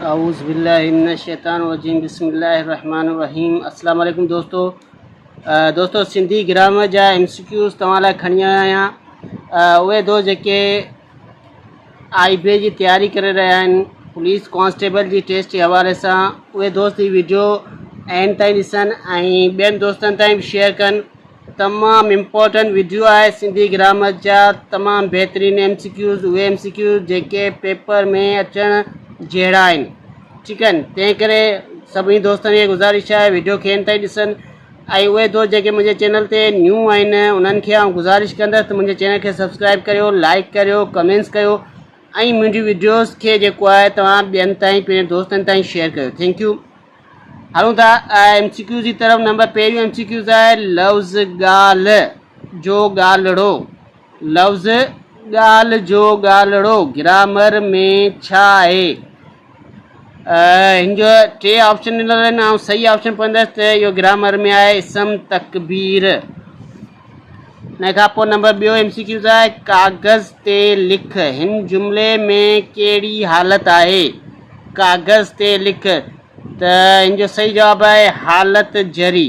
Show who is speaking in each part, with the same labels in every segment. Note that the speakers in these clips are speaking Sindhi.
Speaker 1: اعوذ بالله من الشيطان الرجيم بسم الله الرحمن الرحيم السلام عليڪم دوستو دوستو سنڌي گرامر جا ايم سي کيوز توهان لاء کڻي آيو آهيان اهي دوست جيڪي آئي بي جي تياري ڪري رهيا آهن پوليس ڪانسٽيبل جي ٽيسٽ جي حوالي سان اهي دوست هي ويڊيو اينڊ تائين ڏسن ۽ ٻين دوستن تائين بي شيئر ڪن تمام امپورٽنٽ ويڊيو آهي سنڌي گرامر جا تمام بهترين ايم سي ڪيوز اهي ايم سي ڪيوز جيڪي پيپر ۾ اچڻ جهڙا آهن ٺيڪ آهن تنهن ڪري سڀني دوستن کي گذارش آهي ويڊيو کي اين تائين ڏسن ۽ اهي دوست جيڪي منهنجي چينل تي نيو آهن انهن کي آئون گذارش ڪندس ته منهنجي چينل کي سبسڪرائب ڪريو لائڪ ڪريو ڪمينس ڪيو ۽ منهنجي ويڊيوز کي جيڪو آهي توهان ٻين تائين پنهنجي دوستن تائين شيئر ڪيو ٿينڪ يو هلون ٿا ايم سي ڪيو جي طرف نمبر پهريون ايم سي ڪيو ته آهي لفظ ڳالهه جو ڳالهڙو لفظ ڳالهه جو ڳالهڙو گرامر ۾ ڇا آهي هن جو ٽي آپشن ڏنل آهن آئون صحيح آپشن پوندس ته اهو گرامر ۾ آهي اسم تڪبير ان کان پوء نمبر ٻيو ايم سي ڪيو ته ڪاغذ تي لک، هن جملي ۾ ڪهڙي حالت آهي؟ ڪاغذ تي لک ته هن جو صحيح جواب آهي حالت جري.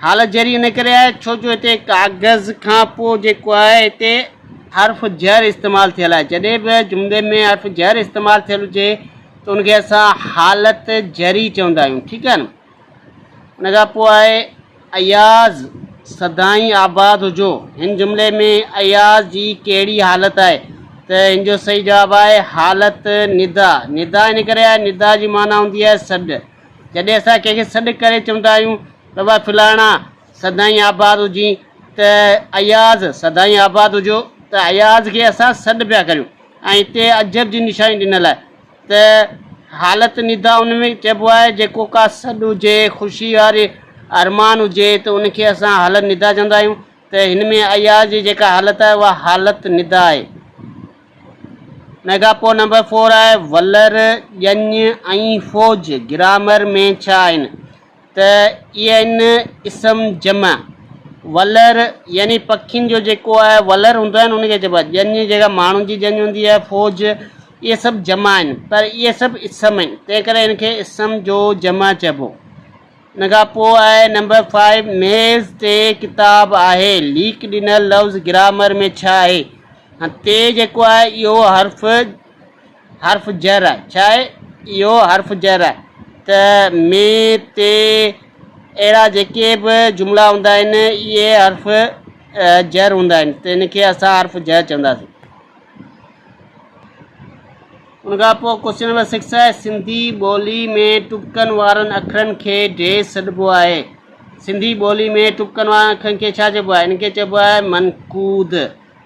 Speaker 1: حالت جري ان ڪري آهي ڇو جو هتي ڪاغذ کان پوء جيڪو آهي هتي حرف جر استعمال ٿيل آهي جڏهن به جملي ۾ حرف جر استعمال ٿيل هجي ته ان کي اسان حالت جري چوندا آهيون ٺيڪ آهي نه ان کان پوء آهي اياز سدائين آباد هجو. هن جملي ۾ اياز جي ڪهڙي حالت آهي ته هن جو صحيح جواب آهي حالت ندا. ندا ان ڪري آهي ندا جي معنيٰ هوندي آهي سڏ. جڏهن اسان ڪنهن کي سڏ ڪري چوندا آهيون ته واء فلاڻا سدائين آباد هجين ته اياز سدائين آباد هجو ته اياز کي اسان سڏ پيا ڪريون ۽ هتي عجب جي نشاني ڏنل آهي. ته حالت ندا ان ۾ چئبو آهي جيڪو ڪا سڏ هجي، خوشي واري ارمان هجي ته ان کي اسان حالت ندا چوندا آهيون ته هن ۾ اياز جي جيڪا حالت آهي اها حالت ندا آهي. ميگا پو نمبر فور آهي ولر، ڄڃ ۽ فوج گرامر ۾ ڇا آهن؟ ته ان اسم جمع ولر يعني پکين جو جيڪو آهي ولر هوندو آهي نه ان کي چئبو آهي ڄڃ جي جڳهه ماڻهن جي ڄڃ هوندي آهي فوج اهي سڀ جمع آهن پر اهي سڀ اسم آهن تنهن ڪري ان کي اسم جو جمع چئبو ان کان پوء آهي نمبر فائيو ميز تي ڪتاب آهي ليڪ ڏنل لفظ گرامر ۾ ڇا آهي ته جيڪو آهي اهو حرف حرف جر آهي ڇا آهي اهو حرف جر آهي ته مين تي اهڙا جيڪي به جملا هوندا آهن اهي حرف جر هوندا آهن ته ان کي اسان حرف جر چونداسين ان کان پوء ڪوشچن نمبر سڪس آهي سنڌي ٻولي ۾ ٽپڪن وارن اکرن کي ڊيش سڏبو آهي سنڌي ٻولي ۾ ٽپڪن وارن اکرن کي ڇا چئبو آهي ان کي چئبو آهي منقود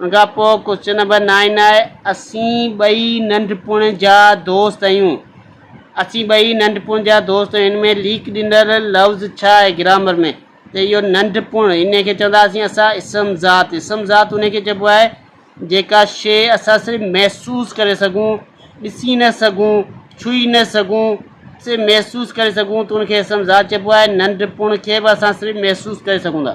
Speaker 1: ان کان پوء ڪوشچن نمبر نائن آهي اسين ٻئي ننڍپڻ جا دوست اهيون اسين ٻئي ننڍپڻ جا دوست هن ۾ ليڪ ڏنل لفظ ڇا آهي گرامر ۾ ته اهو ننڍپڻ ان کي چونداسين اسان اسم ذات اسم ذات ان کي چئبو آهي جيڪا شي اسان صرف محسوس ڪري سگهون ڏسي نه سگهون ڇهي نه سگهون صرف محسوس ڪري سگهون ته ان کي اسم ذات چئبو آهي ننڍپڻ کي به اسان صرف محسوس ڪري سگهون ٿا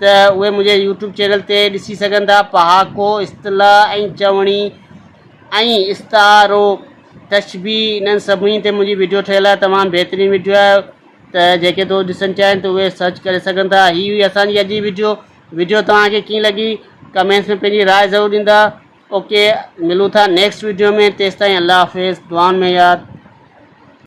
Speaker 1: ته اهي منهنجي يوٽيوب چينل تي ڏسي سگهن ٿا پهاڪو اصطلاح ۽ چوڻي ۽ استعارو تشبيهه انهن سڀني تي منهنجي ويڊيو ٺهيل آهي تمام بهترين ويڊيو آهي ته جيڪي دوست ڏسڻ چاهين ته اهي سرچ ڪري سگهن ٿا هي هئي اسان جي اڄ جي ويڊيو ويڊيو توهانکي ڪيئن لڳي ڪمينٽس ۾ پنهنجي راء ضرور ڏيندا اوڪي ملون ٿا نيڪسٽ ويڊيو ۾ تيستائين الله حافظ دعائن ۾ ياد